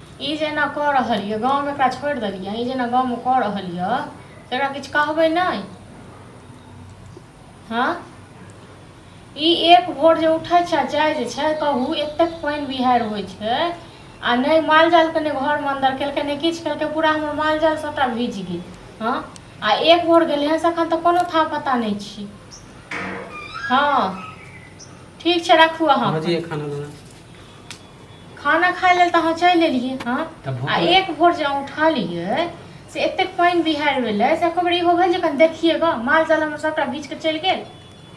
ई जे एना कऽ रहल यऽ गाँवमे एकरा छोड़ि देलियै ई जे एना गाँवमे कऽ रहल यऽ से एकरा किछु कहबै नहि हँ ई एक भोर जे उठै छै जाइ जे छै कहू एतेक पानि बिहारि होइ छै आ नहि मालजालके नहि घरमे अन्दर केलकै नहि किछु केलकै पूरा हमर मालजाल सभटा भीज गेल हँ आ एक भोर गेलै हँ से एखन तऽ कोनो था पता नहि छी हँ ठीक छै राखू अहाँ खाना खाना खाय लेल तऽ अहाँ चलि एलियै हँ तऽ भूख आ एक भोर जे अहाँ उठलियै से एतेक पानि बिहारि भेलै से एको बेर इहो भेल जे कनि देखिए गऽ माल जाल हमर सभटा बीछ कऽ चलि गेल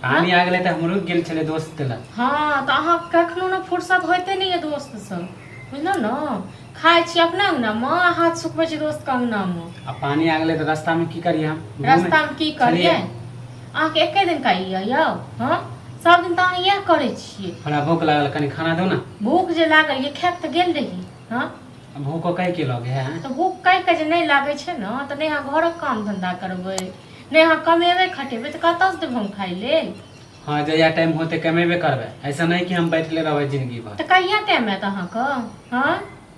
पानी आ गेलै तऽ हमरो गेल छलै दोस्त के लग हँ तऽ अहाँ कखनो ने फुर्सत होइते नहि यऽ दोस्त सब बुझलहुँ ने खाइ छी अपना अंगना मे आ हाथ सुखबै छी दोस्त के अंगना मे आ पानी आ गेलै तऽ रास्ता में की करियै हम घूमे- रास्ता मे की करियै छलियै। अहाँके एके दिन कहि यऽ यौ हँ सब दिन तऽ अहाँ इएह करै छियै हमरा भूख लागल कनि खाना दो ना भूख जे लागल ये खायब तऽ गेल रही हँ अब भूखो कह के लगे है तऽ भूख कहि कऽ जे नहि लागै छै ने तऽ नहि अहाँ घरक काम धंधा करबै नहि अहाँ कमेबै खटेबै तऽ कतऽसँ देबै हम खाइ लेल हाँ जहिया टाइम होते कमेबे करबे ऐसा नहीं कि हम बैठले रहबे जिंदगी भर तऽ कहिया टाइम आयत अहाँके हँ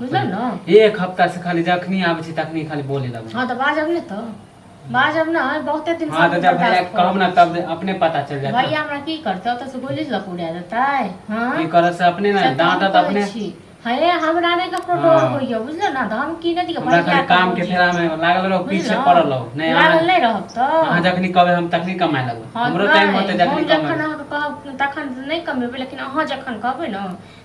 बुझल ने एक हफ्ता से खाली जखनी आबै छी तखनी खाली बोले लगै हँ तऽ बाजब ने तऽ बाजब ने बहुते दिन हाँ तऽ जब भैया के कहब ना तब अपने पता चल जात भैया हमरा की करतै ओतऽ से गोली लऽ के उड़ा देतै हँ की करत से अपने ना से तऽ हम डांटत कहै अपने छी। हँ ए, हमरा नहि ककरो डर हाँ। होइए बुझल ने तऽ हम की नहि दिक्कत हमरा खाली काम के फेरा में लागल रहो पीछे पड़ल रहो नहीं लागल अहाँ- नहि रहब तऽ अहाँ जखनी कहबै हम तखनी कमाए लगबै हँ, हमरो टाइम नहि, होतै जखनी हम जखन कमाए अहाँके कहब तखन नहि कमेबै लेकिन अहाँ जखन कहबै ने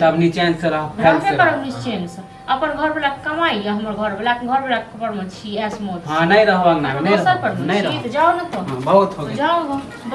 तब निचेन से रह फैल से रह निचेन से अपन घर वाला कमाई या हमर घर वाला घर वाला पर में छी एस मोड हां नहीं रहवा ना नहीं रहवा नहीं रहवा जाओ ना तो हाँ, बहुत हो गया जाओ